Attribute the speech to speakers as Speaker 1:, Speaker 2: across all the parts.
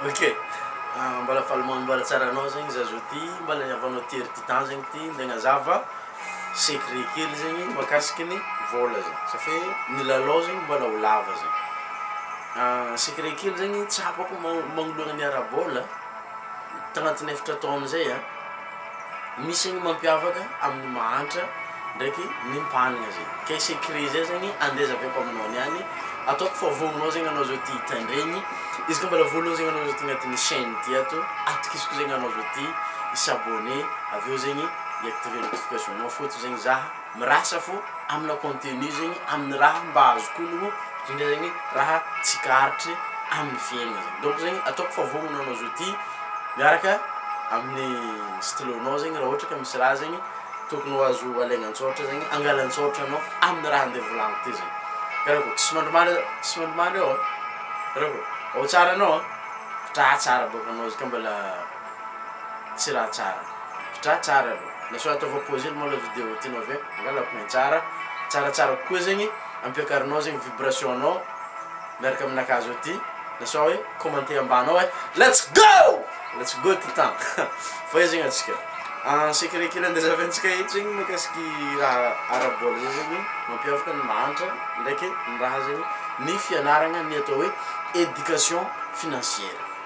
Speaker 1: Okay. Ah, mbala faly manambara tsara anao zegny za zao ty mbala niavanao ty ry titan zegny ty nde nazava secret kely zegny makasiky ny vola zegny safe ny lalao zegny mbala ho lava zegny ah, secret kely zegny tsapako magnoloana ny ara-bola tagnatin'ny efatra taogno zay an. Misy ny mampiavaka amin'ny mahantra ndraiky ny mpanigna zay kay secret zay zegny andeha zahaviko aminao niany ataoko fa voanao zegny anao zao ty tandregny izy ka mbola voanao zegny anao zao ty agnatin'ny chaine ty ato atokisiko zegny anao zao ty i s'abonner avy eo zegny i activer notification-nao fôto zegny za Mirasa fo amina contenu zegny aminy raha mba azoko onogno ndrindra zegny raha tsikaritry aminy fiainana zegny donc zegny ataoko fa vognono anao zao ty miaraka aminy stylo nao zegny raha ohatra ka misy raha zegny tokony ho azo alaigna an-tsôratra zegny angala an-tsôratra anao aminy raha ande volagniko ty zegny karaha ko tsy mandry mandry tsy mandry mandry eo karaha ko ao tsara anao a tra tsara bôka anao izy ka mbala Tsy raha tsara. Tra tsara aloha. Na sao ataovao pause aloha malao video tianao avy eo angala ampy ny tsara. Tsara tsara kokoa zegny ampiakarinao zegny vibration anao miaraka amina kazo aty na sao hoe commenter ambany ao hoe let's go! Let's go ty tan! Fa io zegny atsika en secret kely andeha zahavantsika eto zegny mikasiky raha ara bola zay zegny mampiavaka ny mahantra ndraiky ny raha zegny ny fianaragna ny atao hoe education financière.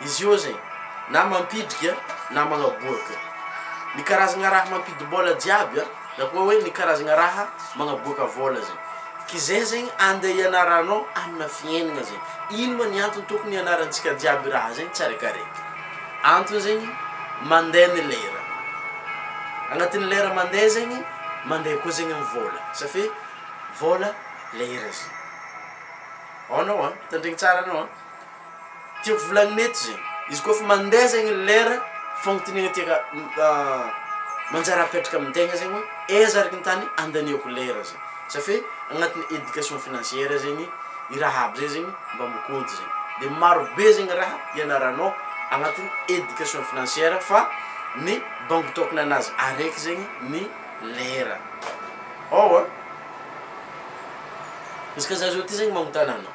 Speaker 1: Izy io aza e! Na mampidrika na magnaboaka. Ny karazagna raha mampidim-bola jiaby a, na koa hoe ny karazagna raha magnaboaka vola zegny. K'izay zegny andeha ianaranao amina fiaignana zegny. Ino ma ny antony tokony ianarantsika jiaby raha zegny tsiaraikaraiky? Antony zegny mandeha ny lera. Agnatin'ny lera mandeha zegny, mandeha koa zegny ny vola. Sa fe vola lera zegny. Aona oa? Tandregny tsara anao a! Tiako volagnina eto zegny, izy koa fa mandeha zegny ny lera, fagnotaniagna tiaka manjary apetraka amin-tegna zegny hoe, aiza araka ny tany andaniako lera zay? Za fe agnatin'ny éducation financière zegny i raha aby zay zegny mba mikoty zay. De marobe zegny raha ianaranao agnatin'ny éducation financière fa ny bango tôkana anazy araiky zegny ny lera. Ôwa, izy ka za zao ty zegny magnotany anao.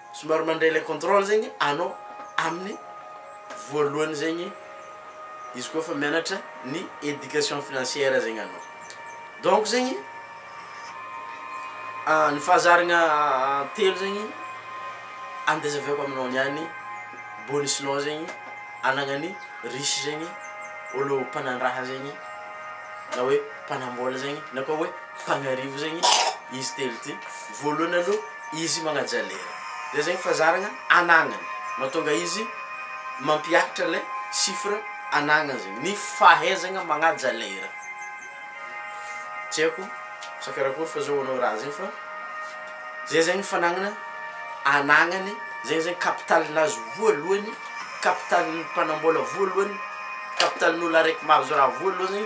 Speaker 1: Somary mandray ilay contrôle zegny anao amin'ny voalohany zegny izy koa fa mianatra ny éducation financière zegny anao. Donc zegny ny fahazaragna telo zegny andezaviako aminao niany bonus-nao zegny anagnan'ny riche zegny olo mpanandraha zegny na hoe mpanambola zegny na koa hoe Mpagnarivo zegny izy telo ty, voalohany aloha izy magnaja lera, zay zegny fazaragna anagnany mahatonga izy mampiakatra le chiffre anagnany zegny, ny fahaizagna magnaja lera, tsy haiko sa karakory fa zao anao raha zegny fa zay zegny fanagnana anagnany, zay zegny capital-nazy voalohany, capital-ny mpanam-bola voalohany, capital-n'olo araiky mahazo raha voalohany.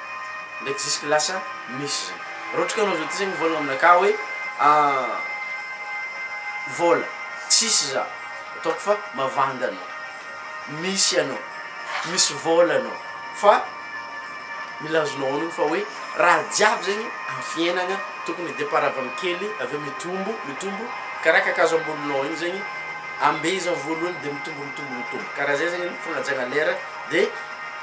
Speaker 1: Ndraiky jusque lasa misy zany. Raha ohatra ka anao zao ty zany mivolagna aminakahy hoe ahh vola tsisy za, ataoko fa mavanda anao. Misy anao, misy vola anao fa mila azonao onony fa hoe raha jiaby zegny am fiainagna tokony départ avy am kely avy eo mitombo, mitombo karaha kakazo amboninao igny zegny ambezagny voalohany de mitombo, mitombo, mitombo karaha zay zegny ny fagnajagna lera de.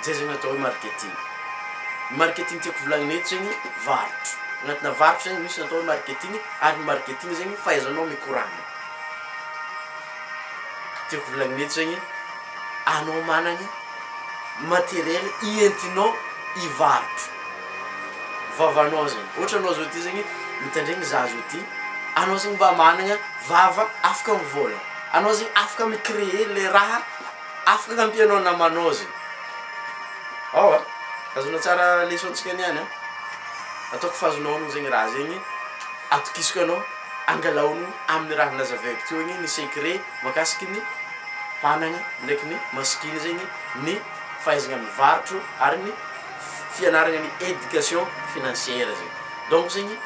Speaker 1: Izay zegny atao hoe marketing. Ny marketing tiako volagnina eto zegny varotra. Agnatina varotra zegny misy ny atao hoe marketing ary ny marketing zegny fahaizanao mikoragna. Tiako volagnina eto zegny anao managny materiel ientinao hivarotra vavanao zegny. Ohatra anao zao ty zegny mitandregny za zao ty, anao zegny mba managna vava afaka mivôlagna, anao zegny afaka mi-creer le raha. Afaka kampy anao namanao ze ao a! Azonao tsara leçon tsika niany a! Ataoko fa azonao aloha zegny raha zegny atokisako anao angalaono aminy raha nazavaiko teo igny ny secret makasiky ny hanagna ndraiky ny masikiny zegny ny fahaizagna mivarotro ary ny fianaragna ny education financière zegny donc zegny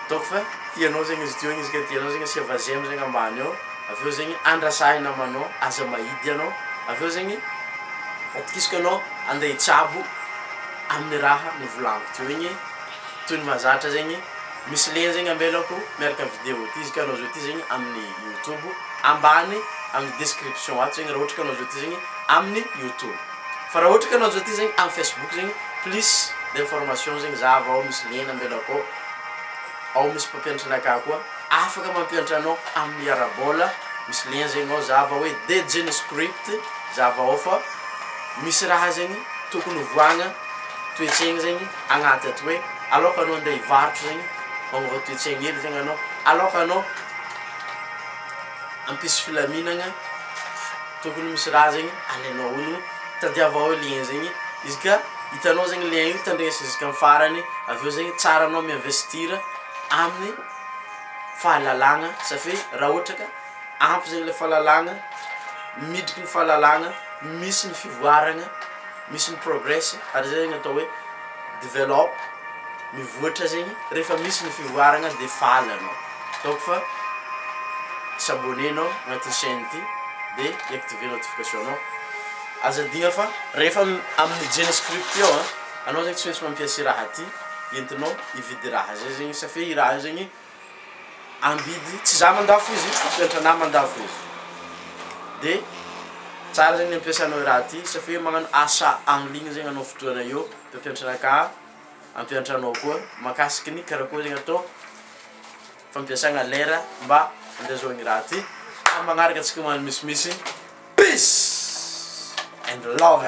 Speaker 1: ataoko fa tianao zegny izy teo igny izy ka tianao zegny asia vazem zegny ambany ao. avy eo zegny andrasahina manao aza mahidy ianao, avy eo zegny atokisako ianao andeha hitsabo amin'ny raha novolaniko teo igny, toy ny mahazatra zegny misy lien zegny amelako miaraka amin'ny vidéo ity, izy ka anao zao ty zegny amin'ny youtube, ambany amin'ny description ato zegny raha ohatra ka anao zao ty zegny amin'ny youtube, fa raha ohatra ka anao zao ty zegny amin'ny facebook zegny plus d'information zegny zahava ao misy lien amelako ao, ao misy mpampianatra anakahy koa. Afaka mampiantra anao amin'ny hiarabola misy lien zegny ao zava hoe the gene script zava ao fa misy raha zegny tokony hovoagna toetsaigny zegny agnaty ato hoe aloka anao andeha hivarotro zegny magnova toetsaigny hely zegny anao aloka anao hampisy filaminagna tokony misy raha zegny alainao ao no tadiava ao lien zegny izy ka hitanao zegny lien io tandresa izy ka amin'ny farany avy eo zegny tsara anao mi-investir amin'ny fahalalagna satria raha ohatra ka ampy zegny le fahalalagna, miditry ny fahalalagna misy ny fivoaragna, misy ny progress ary zay zegny atao hoe develop, mivoatra zegny, rehefa misy ny fivoaragna de faly anao, donc fa s'abonner anao agnatin'ny chaine ty de i-activer notification anao, aza adino fa rehefa amin'ny jeunesse script eo a, anao zegny tsy maintsy mampiasa i raha ty. entinao hividy raha zay zegny sa fe i raha io zegny amidy tsy za mandafo izy tsy antranahy mandafo izy de tsara zegny ny ampiasanao i raha ty sa fe magnano achat en ligne zegny anao fotoana eo de mpiantranakà ampiantranao koa makasiky ny karakôry zegny atao fampiasagna lera mba andezoagna i raha ty fa magnaraka antsika ho any misimisy peace and love.